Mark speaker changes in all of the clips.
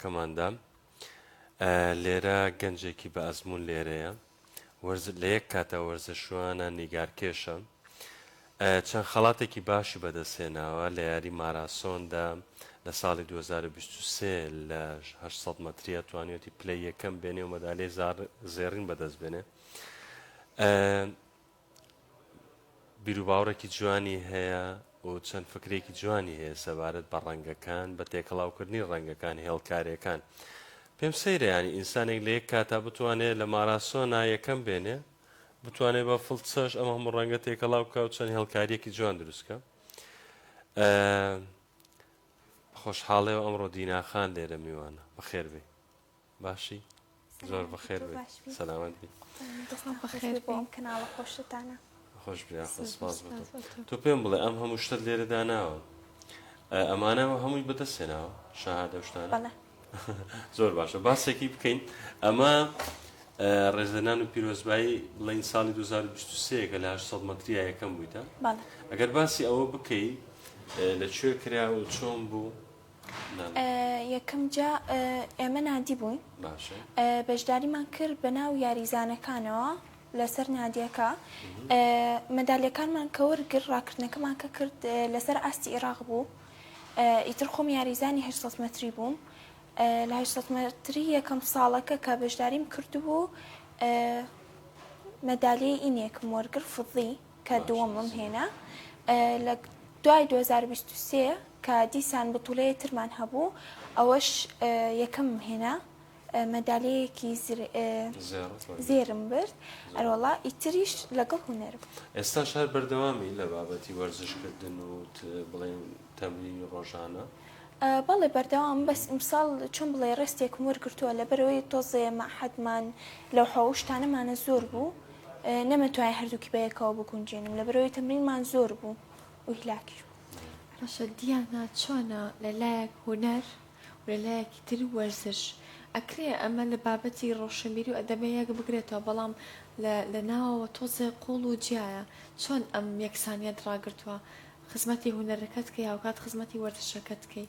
Speaker 1: کماندان، لێرە گەنجێکی بە ئەزموون لێرەیە، وەرز لە یەک کاتدا وەرزشوانە، نیگارکێشە، چەند خەڵاتێکی باشی بەدەستهێناوە لە یاری ماراسۆندا، لە ساڵی دوو هەزار و بیست و سێ لە هەشت سەد مەتریە توانیوەتی پلەی یەکەم بێنێ و مەدالیای زار زێڕین بەدەستبێنێ. بیروباوڕێکی جوانی هەیە و چەند فکرێکی جوانی هەیە سەبارەت بە ڕەنگەکان، بە تێکەڵاوکردنی ڕەنگەکان، هێڵکاریەکان. پێم سەیرە یانی ئینسانێک لە یەک کاتا بتوانێ لە ماراسۆنا یەکەم بێنێ، بتوانێ بە فڵچەش ئەم هەموو ڕەنگە تێکەڵاو بکا و چەند هێڵکاریەکی جوان دروست کا. خۆشحاڵێ و ئەمڕۆ دینا خان لێرە میوانە. بەخێربێی. باشی زۆر بەخێر سەلامەت بی
Speaker 2: کەناڵە خۆشتانە
Speaker 1: خۆش تۆ پێم بڵێ ئەم هەموو شتت لێرە داناوە ئەمانەوە هەمووی بەدەستێناوە شاهادە شتانە زۆر باشە باسێکی بکەین ئەمە ڕێزدەنان و پیرۆزبایی بڵین ساڵی 2023 کە لە 800 مەتریا یەکەم بوویتە ئەگەر باسی ئەوە بکەیت لە کوێ کرا و چۆن بوو
Speaker 2: یەکەم جا ئێمە نادی بووین بەشداریمان کرد بە ناو یاریزانەکانەوە لەسەر نادیەکە مەدالیەکانمان کە وەرگرت ڕاکردنەکەمان کە کرد لەسەر ئاستی عێراق بوو ئیتر خۆم یاریزانی هه متری بووم لە هه متری یەکەم ساڵەکە کە بەشداریم کردبوو مەدالیای ئینێکم وەرگر فضی کە دووەمم هێنا لە دوای دوو هەزار و بیست و سێ کە دیسان بتوڵەیە ترمان هەبوو ئەوەش یەکەمم هێنا مەدالەیەکی زێرم برد ئەرۆڵا ئیتریش لەگەڵ هوەرم ئێستا شار
Speaker 1: بەردەوامی لە بابەتی وەرزشکردن و بڵێن تەمرینی ڕۆژانە بەڵێ
Speaker 2: بەردەوام بەس ئیمساڵ چۆن بڵێ ڕستێکم وەرگتووە لە بەرەوەی تۆزێ مەحەدمان لەو حەوشتانەمانە زۆر بوو نەمتوانی هەردووکی بەیەکەوە بگونجێنم لەبەرئەوەی تەمرینمان زۆر بوو و هیلاکیش بووم. باشە دیانا
Speaker 3: چۆنە لەلایەک هونەر و لەلایەکی تر وەرزش ئەکرێ ئەمە لە بابەتی ڕۆشنبیری و ئەدەبێ یەک بگرێتەوە بەڵام لە لە ناوەوە تۆزێ قوڵ و جیایە چۆن ئەم یەکسانیەت ڕاگرتووە خزمەتی هونەرەکەت کەی هاوکات خزمەتی وەرزشەکەت کەی؟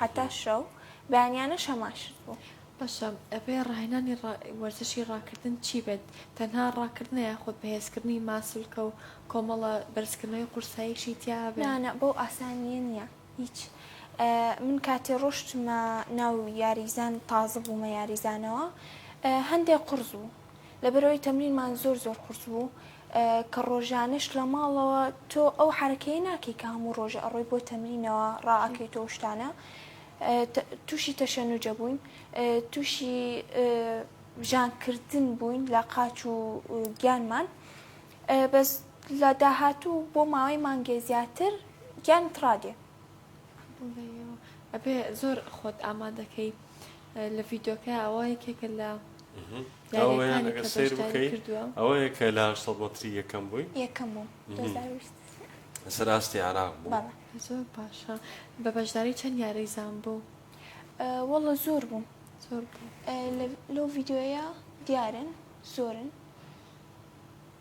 Speaker 2: هەتا شەو، بەیانیانە شەماشت بوو. باشە بەپێی
Speaker 3: ڕاهێنانی وەرزشی ڕاکردن چی بێت؟ تەنها ڕاکردنە یاخود بەهێزکردنی ماسولکە و کۆمەڵە بەرزکردنەوەی قورساییشی تیا هەبێ؟ نا نا بەو ئاسانییە
Speaker 2: نییە هیچ من کاتێ ڕۆشتمە ناو یاریزان تازە بوومە یاریزانەوە هەندێ قوڕس بوو لەبەرئەوەی تەمرینمان زۆر زۆر قورس بوو کە ڕۆژانەش لە ماڵەوە تۆ ئەو حرەکەی ناکەی کە هەموو ڕۆژە ئەڕۆی بۆ تەمرینەوە ڕائەکەی تۆ شتانە تووشی تەشەنوجە بووین تووشی ژانکردن بووین لە قاچ و گیانمان بەس لە داهاتوو بۆ ماوەی مانگێ زیاتر گیان تڕادێ
Speaker 3: ئەبێ زۆر خۆت ئامادەکەی لە ڤیدۆکە ئەوە یەکێکە لە یاریەکانی
Speaker 1: کە بەشداری کردووە ئەوە یەکە لە 800 مەتری یەکەم بووی یەکەم بوو لەسەر ئاستی عراق بوو زۆر باشە
Speaker 3: بە بەشداری چەند یاری زان بوو وەڵە
Speaker 2: زۆر بوو زۆر
Speaker 3: لەو
Speaker 2: ڤیددیوەیە دیارن زۆرن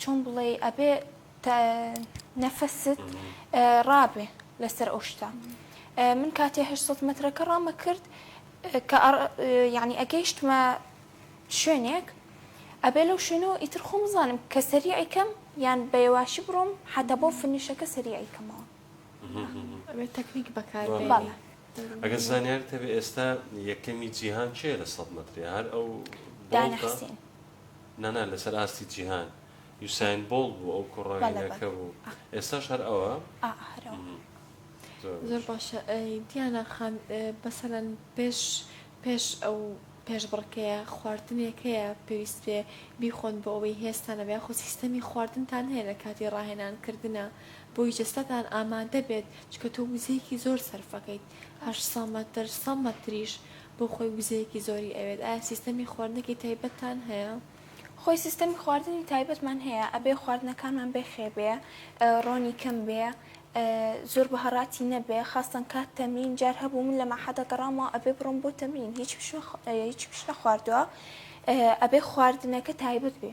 Speaker 2: چۆن بڵێی ئەبێ نەفەست ڕابێ لەسەر ئەو شتە من کاتێ 800 مترەکە ڕامە کرد کە یعنی ئەگەیشتمە شوێنێک ئەبێ لەو شوێنەوە ئیتر خۆم زانم کە سەریعیکەم یان بەێواشی بڕۆم حتا بۆ فنیشەکە سەریعیکەمەوە
Speaker 3: تەکنیک بەکار
Speaker 2: ئەگە زانیار
Speaker 1: تەبێ ئێستا یەکەمی جیهان چێ لە سە متری هەر ئەو دانحسین
Speaker 2: نانا
Speaker 1: لەسەر ئاستی جیهان یوساین بۆڵت بوو ئەو کوڕە هێنەکە بوو ئێستاش هەر ئەوە
Speaker 3: زۆر باشە دیانا خان بەسەلەن پێش پێش ئەو پێش بڕکەیە خواردنێکەیە پێویست پێ بیخۆن بۆ ئەوەی هێستانە بە خۆ سیستەمی خواردنتان هەیە لە کاتی ڕاهێنانکردە بۆی جەستەتان ئامادە بێت چکە تۆ وزەیەکی زۆر سەرفەکەیت ئەش سەمەتر سەمەتریش بۆ خۆی وزەیەکی زۆری ئەوێت ئایا سیستەمی خواردنەکی تایبەتتان هەیە؟ خۆی سیستەمی
Speaker 2: خواردنی تایبەتمان هەیە ئەبێ خواردنەکانمان بێ خێ بێ ڕۆنی کەم بێ زۆر بە هەڕاتی نەبێ خاستەن کات تەمرین جار هەبوو من لە مەحەدە گەڕامەوە ئەبێ بڕۆم بۆ تەمرین هیچ پش هیچ پش نەخواردوە ئەبێ خواردنەکە تایبەت بێ.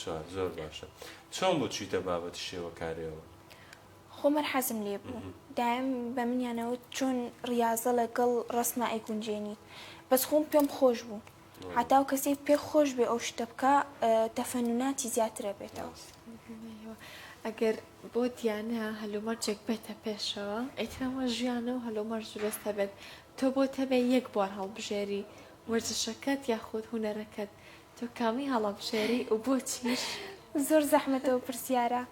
Speaker 2: چوار زۆر
Speaker 1: باشە چۆن بوو چویتە بابەتی شێوەکارەوە؟ خۆ
Speaker 2: مەر حەزم لێ بوو دایم بە منیانەوە چۆن ڕاضە لەگەڵ ڕسمە ئەیگونجێنیت بەس خۆم پێم خۆش بوو حتاو کەسێک پێ خۆش بێ ئەو شتە بکە تەفەنوناتی زیاترە بێتەوە
Speaker 3: ئەگەر بۆ دیانە هەلومەرجێک بێتە پێشەوە ئەیترەوە ژیانە و هەلومەرج بێستە بێت تۆ بۆ تەبێ یەک بوار هەڵبژێری وەرزشەکەت یاخود هوەرەکەت تۆ کامی هەڵەبژێری و بۆچیش؟ زۆر زەحمەتە
Speaker 2: ئەو پرسیارە.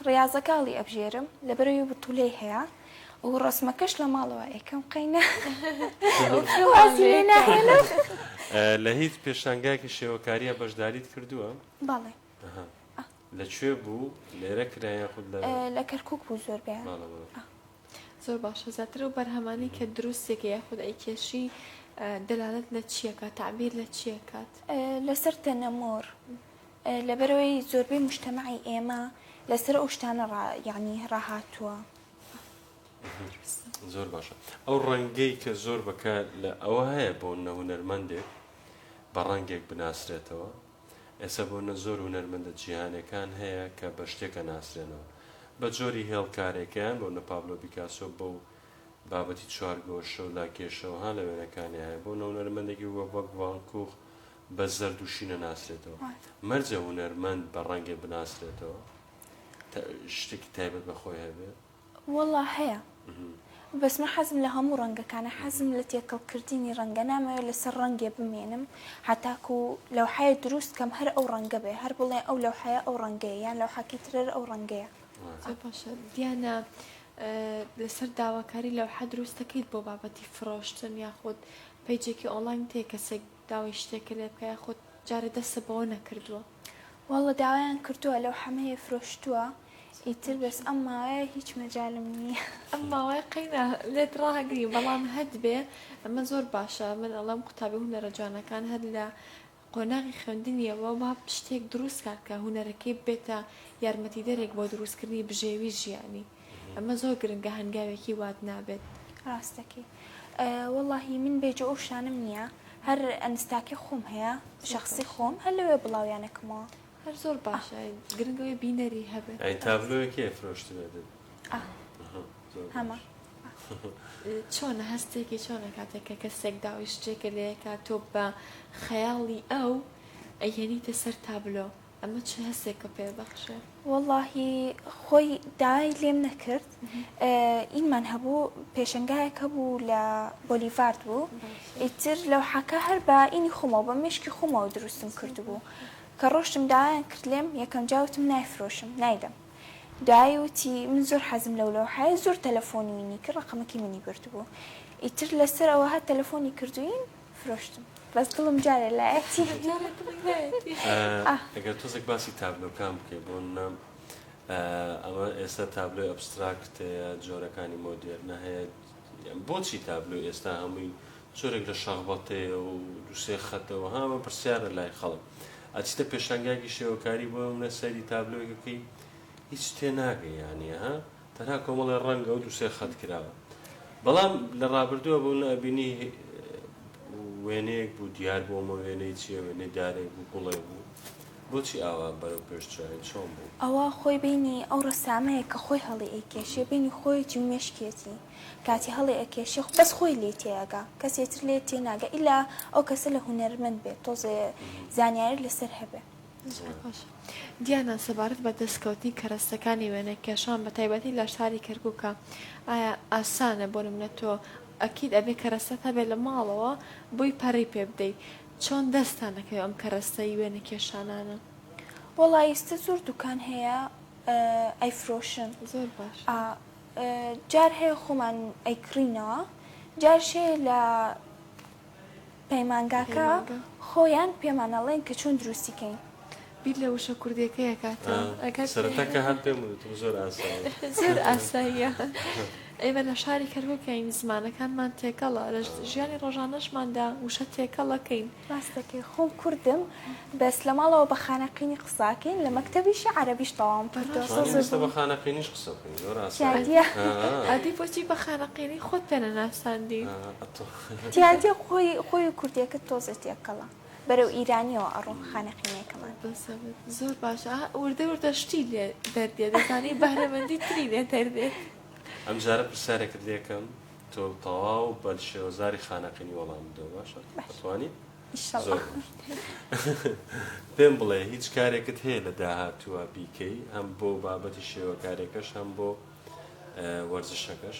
Speaker 2: ڕاضەکە هەڵی ئەبژێرم لەبەرەوەی بتولەی هەیە و ڕسمەکەش لە ماڵەوە ئەیکەم قەینا
Speaker 1: لە هیچ پێشانگایکی شێوەکاریە بەشداریت کردووە؟ بەڵێ
Speaker 2: لە
Speaker 1: کوێ بوو لێرە کرا یاخود لە لە کەرکک بوو
Speaker 2: زۆر بێ
Speaker 3: زۆر باشە زیاتر و بەرهەمانی کە دروستێکە یاخود ئەی کێشی دەلالت لە چیەکە تعبیر لە چیەکات لەسەر
Speaker 2: تەنەمۆر لەبەرەوەی زۆربەی مشتەمەعی ئێمە لەسەر ئەو شتانە یعنی ڕاهاتووە
Speaker 1: زۆر باشە ئەو ڕەنگەی کە زۆر بەکە لە ئەوە هەیە بۆ نەهونەرمەندێک بە ڕەنگێک بناسرێتەوە ئێستا بۆنە زۆر هونەرمەندە جیهانێکان هەیە کە بە شتێک ئەناسرێنەوە بە جۆری هێڵ کارێکەیان بۆنە پابلۆ بیکاسۆ بەو بابەتی چوار گۆشەو لاکێشەو ها لە وێنەکانیا هەیە بۆنە هونەرمەندێکی وەک ڤان کوخ بە زەرد و شینە ناسرێتەوە مەرجە هونەرمەند بە ڕەنگێ بناسرێتەوە تا شتێکی تایبەت بە خۆی هەبێ. وەڵا هەیە
Speaker 2: بەس من حەزم لە هەموو ڕەنگەکانە حەزم لە تێکەڵ کردنی ڕەنگە نامەوێت لەسەر ڕەنگێ بمێنم هەتاکو لەوحەیە دروست کەم هەر ئەو ڕەنگە بێ هەر بڵێ ئەو لەوحەیە ئەو ڕەنگەیە یان لەوحەکی ترەر ئەو ڕەنگەیە زۆر باشە
Speaker 3: دیانا لەسەر داواکاری لەوحە دروست دەکەیت بۆ بابەتی فرۆشتن یاخود پەیجێکی ئۆنلاین تێ کەسێک داوای شتێکە لێ بکە یاخود جارە دەستە بەوە نەکردووە واللە
Speaker 2: داوایان کردوە لەو حەمەیە فرۆشتوە ئیتر بەس ئەم ماوەیە هیچ مەجالم نیە. ئەم ماوەیە قەینا
Speaker 3: لێت ڕاگری بەڵام هەتبێ ئەمە زۆر باشە من ئەڵێم قوتابی هونەرە جوانەکان هەر لە قۆناغی خوێندنیەوە با شتێک دروست کات کە هونەرەکەی ببێتە یارمەتیدەرێک بۆ دروستکردنی بژێوی ژیانی. ئەمە زۆر گرنگە هەنگاوێکی وات نابێت. ڕاست دەکەی
Speaker 2: وەڵاهی من بێجۆ ئەو شتانەم نییە هەر ئەنستاکی خۆم هەیە شخصی خۆم هەر لەوێ بڵاویانەکەمەوە هەر زۆر
Speaker 3: باشە گرنگەوەی بینەری هەبێت ئەی تابلۆیەکێ
Speaker 1: فرۆشتبێتن هەمە
Speaker 3: چۆنە هەستێکی چۆنە کاتێک کە کەسێک داوای شتێکە لەیەکە تۆ بە خەیاڵی ئەو ئەیەنیتە سەر تابلۆ ئەمە چ هەستێکە پێ بەخشێ؟ وەڵاهی
Speaker 2: خۆی داوای لێم نەکرد ئینمان هەبوو پێشنگایەک هەبوو لە بۆلیڤارد بوو ئیتر لەو حەکە هەر بە ئینی خۆمەوە بە مشکی خۆمەوە دروستم کردبوو کە ڕۆشتم دایان کرد لێم یەکەم جاوتم نایفرۆشم نایدەم دوایی وتی من زۆر حەزم لەو لەو حەیە زۆر تەلەفۆنی منی کە ڕقمەکەی منی بردبوو ئیتر لەسەر ئەوە هە تەلەفۆنی کردوین فرۆشتم بەس دڵم جارێ لایەتی
Speaker 1: ئەگەر تۆزێک باسی تابلۆکان بکەی بۆ نام ئەمە ئێستا تابلۆی ئەبستراکتەیە جۆرەکانی مۆدێرنە هەیە بۆچی تابلۆ ئێستا هەمووی جۆرێک لە شەغبەتەیە و دوسێ خەتەوە هامە پرسیارە لای خەڵک ئەچیتە پێشانگاگی شێوەکاری بۆ منە سەری تابلۆیەکەکەی هیچ تێ ناگەی یانە ها تەنها کۆمەڵێ ڕەنگ ئەو دوو سێ خەت کراوە بەڵام لە ڕابردووە بوو نە ئەبینی وێنەیەک بوو دیار بوو ئەمە وێنەی چیە وێنەی دارێک بوو گوڵێک بوو بۆچی ئاوا بەرەو پێش چرایە چۆن بوو؟ ئەوە خۆی بینی
Speaker 2: ئەو ڕەسامەیە کە خۆی هەڵی ئەیکێشێ بینی خۆیەتی و مێشکیەتی کاتی هەڵی ئەکێشێ خۆ بەس خۆی لێی تێئەگا کەسێ تر لێ تێ ناگا ئیلا ئەو کەسە لە هونەرمەند بێ تۆزێ زانیاری لەسەر هەبێ. زۆر باش
Speaker 3: دیانا سەبارەت بە دەستکەوتنی کەرەستەکانی وێنەکێشان بە تایبەتی لە شاری کەرکووکە ئایا ئاسانە بۆ نمونە تۆ ئەکید ئەبێ کەرەستەت هەبێ لە ماڵەوە بۆی پەڕی پێ بدەی چۆن دەستتان دەکەوێ ئەم کەرەستەی وێنەکێشانانە وەڵا
Speaker 2: ئیستە زۆر دوکان هەیە ئەیفرۆشن زۆر باش
Speaker 3: ئا
Speaker 2: جار هەیە خۆمان ئەیکڕینەوە جارشەیە لە پەیمانگاکە خۆیان پێمان ئەڵێن کە چۆن دروستی کەین. بیر لە وشە
Speaker 3: کوردیەکەی ئەکاتەوە. سەرەتا کە هات پێم
Speaker 1: وتم زۆر ئاساییە. زۆر
Speaker 3: ئاساییە. ئێمە لە شاری کەرکوکین زمانەکانمان تێکەڵە لە ژیانی ڕۆژانەشماندا وشە تێکەڵەکەین. ڕاستەکەی خۆم
Speaker 2: کوردم بەس لە ماڵەوە بە خانەقینی قساکەین لە مەکتەبیشی عەرەبیش تەواوم کردوە. بە خانەقینیش قسە
Speaker 1: بکەین زۆر ئاساییە.
Speaker 2: ئەدی بۆچی
Speaker 3: بە خانەقینی خۆت پێ نەناساندی؟
Speaker 2: تیاتی خۆی خۆی و کوردیەکەت تۆزێ تێکەڵە بەرەو ئیرانیەوە ئەڕۆن خانەقینێکەمان. زۆر
Speaker 3: باشە وردە وردە شتی لێ دەردێ دەزانی بەهرەمەندی تری لێ دەردێت. ئەم جارە
Speaker 1: پرسیارێکت لێ کەم تۆ تەواو بە شێوەزاری خانەقینی وەڵام بدەوە باشە ئەتوانی؟ زۆر باش پێم بڵێ هیچ کارێکت هەیە لە داهاتووە بیکەی هەم بۆ بابەتی شێوەکارێکەش هەم بۆ وەرزشەکەش؟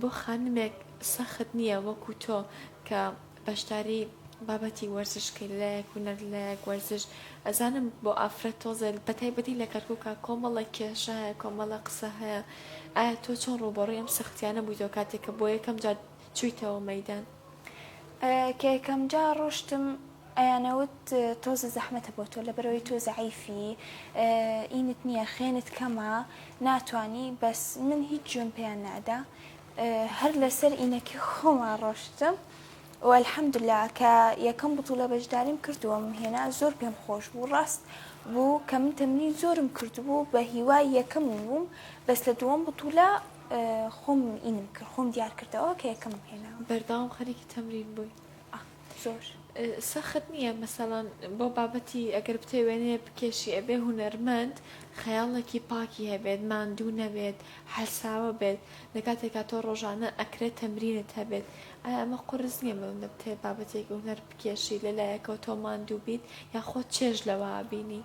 Speaker 3: بۆ خانمێک سەخت نییە وەکو تۆ کە بەشداری بابەتی وەرزش کەی لەلایەک هونەر لەلایەک وەرزش ئەزانم بۆ ئافرەت تۆزێ بە تایبەتی لە کەرکووکە کۆمەڵە کێشە هەیە کۆمەڵە قسە هەیە ئایا تۆ چۆن ڕووبەڕوی ئەم سەختیانە بوویتەوە کاتێک کە بۆ یەکەم جار چوویتەوە مەدان
Speaker 2: کە یەکەم جار ڕۆشتم ئەیانەوت تۆزە زەحمەتە بۆ تۆ لەبەرئەوەی تۆ زەعیفی ئینت نیە خوێنت کەمە ناتوانی بەس من هیچ جوێن پێیان نادا هەر لەسەر ئینەکی خۆما ڕۆشتم و الحمدللە کە یەکەم بطولە بەشداریم کردووەم هێنا زۆر پێم خۆش بوو ڕاست بوو کە من تەمرین زۆرم کردبوو بە هیوای یەکەم بووم بەس لە دووەم بطولە خۆم ئینم کرد خۆم دیار کردەوە کە یەکەمم هێنا. بەردەوام خەریکی
Speaker 3: تەمرین بووی؟ زۆر
Speaker 2: سەخت
Speaker 3: نیە مەسەڵەن بۆ بابەتی ئەگەر بتەوێ وێنەیەک بکێشی ئەبێ هونەرمەند خەیاڵێکی پاکی هەبێت ماندوو نەبێت حەلساوە بێت لە کاتێکا تۆ ڕۆژانە ئەکرێ تەمرینت هەبێت ئایا ئەمە قورس نیە بەوەندە بتەوێ بابەتێکی هونەر بکێشی لە لایەکەوە تۆ ماندوو بیت یا خۆت چێژ لەوە بینی؟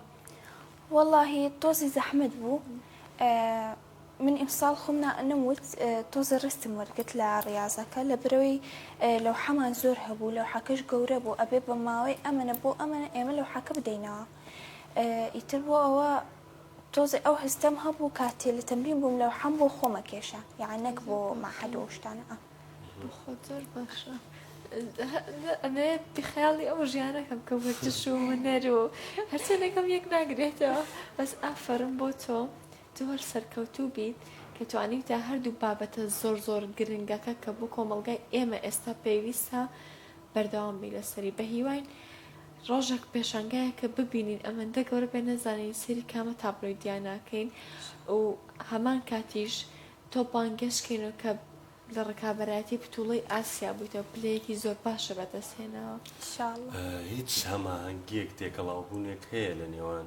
Speaker 3: وەڵاهی
Speaker 2: تۆزی زەحمەت بوو. من ئیمساڵ خۆم نا نەموت تۆزێ ڕستم وەرگرت لە ڕیازەکە لەبرەوەی لەوحەمان زۆر هەبوو لەوحەکەش گەورە بوو ئەبێ بە ماوەی ئەمەنە بۆ ئەمەنە ئێمە لەوحەکە بدەینەوە ئیتر بۆ ئەوە تۆزێ ئەو هەستەم هەبوو کاتێ لە تەمرین بووم لەوحەم بۆ خۆمە کێشا یان نەک بۆ مەعهەد و شتانە ئا. بەخوا
Speaker 3: زۆر باشە ئەمەوێ بیخەیاڵی ئەو ژیانەکە بکە وەرزش و هونەر و هەرچەندێکم یەک ناگرێتەوە بەس ئافەرم بۆ تۆ. تو هەر سەرکەوتوو بیت کە توانیوتە هەردوو بابەتە زۆر زۆر گرنگەکە کە بۆ کۆمەڵگای ئێمە ئێستا پێویستە بەردەوام بی لەسەری بەهیواین ڕۆژەک پێشانگایەکە ببینین ئەمەندە گەورە بێ نەزانین سەیری کامە تابلۆی دیاناکەین و هەمان کاتیش تۆ بانگێش کەینەوە کە لە ڕکابەرایەتی بتوڵەی ئاسیا بوویتەوە پلەیەکی زۆر باشە بەدەست هێناوە. هیچ
Speaker 1: هەماهەنگیەک تێکەڵاوبوونێک هەیە لە نێوان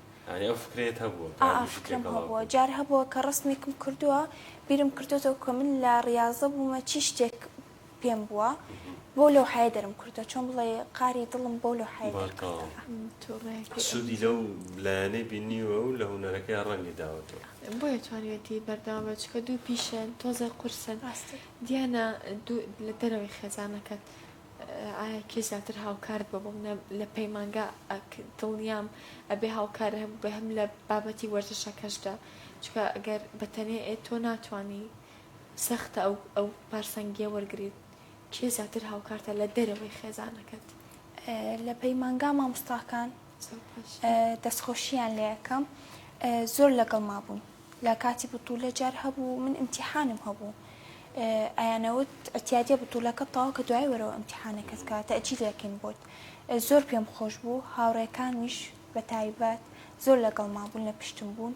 Speaker 2: یانی ئەو
Speaker 1: فکرەیەت هەبووە کە ئا هەربژی فکرەم تێکەڵاو هەبووە
Speaker 2: بوو. جار هەبووە کە ڕەسمێکم کردووە بیرم کردۆتەوە کە من لە ڕیازە بوومە چی شتێک پێم بووە بەو لەوحەیە دەرم کردووە چۆن بڵێی قاری دڵم بەو لەوحەیە بەڵێ تەواو دەرکردە. توڕەیەکی
Speaker 1: سوودی ئەویش لەو لایەنەی بینیوە و لە هونەرەکەیا ڕەنگی داوەتەوە. بۆیە توانیویەتی
Speaker 3: بەردەوام بێت چونکە دوو پیشەن تۆزێ قورسن ڕاستە. دیانا دوو لە دەرەوەی خێزانەکەت ئایا کێ زیاتر هاوکارت بە بۆم لە پەیمانگا ئەک دڵنیام ئەبێ هاوکار هەم بە هەم لە بابەتی وەرزشەکەشدا چکە گەر بەتەنێ ئێ تۆ ناتوانی سەختە ئەو ئەو پارسەنگیە وەرگریت کێ زیاتر هاوکارتە لە دەرەوەی خێزانەکەت لە
Speaker 2: پەیمانگا مامۆستاکان دەستخۆشییان لێ ئەکەم زۆر لەگەڵ مابوون لە کاتی بتوولە جار هەبوو من امتیحانم هەبوو ئەیانەوت ئەتیادیە بتوولەکە بتاوە کە دوای وەرەوە امتیحانەکەت کە تەئجیلەکەین بۆت زۆر پێم خۆش بوو هاوڕێکانمیش بە تایبەت زۆر لەگەڵ مابوون لە پشتم بوون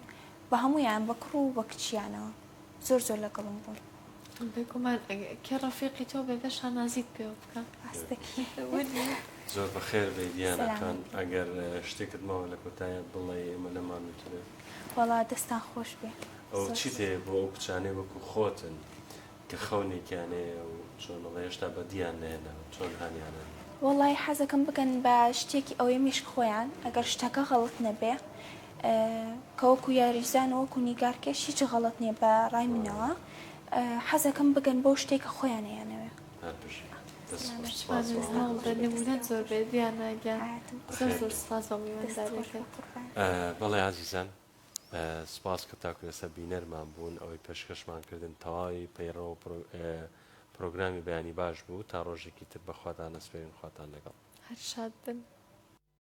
Speaker 2: بە هەموویان بە کوڕ و بە کچیانەوە زۆر زۆر لەگەڵم بوون. بێگومان
Speaker 3: کێ ڕەفیقی تۆ بێ بێ شانازیت پێوە بکا. ئاستەکی وردی. زۆر
Speaker 1: بەخێر بێی دیانا خان سەلامەت بی. ئەگەر شتێکت ماوە لە کۆتایە بڵێی ئێمە لەمانوترێ. وەڵا دەستان
Speaker 2: خۆش بێ ئەو چیت هەیە
Speaker 1: بۆ ئەو کچانەی وەکو خۆتن کە خەونێکیان هەیە و چۆن ئەڵێ هێشتا بەدییان نەهێناوە چۆن هانیانەن وەڵای حەزەکەم
Speaker 2: بگەن بە شتێکی ئەوەی میشک خۆیان ئەگەر شتەکە غەڵەت نەبێ کە وەکو یاریزان و وەکو نیگارکێش هیچ غەڵەت نییە بە ڕای منەوە حەزەکەم بگەن بەو شتێکە خۆیانەیانەوێ هەر بژی دەست خۆش
Speaker 3: سپاس بۆ هەموو نمونەت زۆر بێت دیانا گیان زۆر زۆر سپاس بۆ میوانداریەکەت بەڵێ
Speaker 1: ئازیزان سپاس کە تاکو ئێستا بینەرمان بوون ئەوەی پێشکەشمان کردن تەواوی پەیڕەوە پرۆگرامی بەیانی باش بوو تا ڕۆژێکی تر بەخواتان نەسپێرین خواتان لەگەڵ
Speaker 3: هەر
Speaker 1: شاد بن.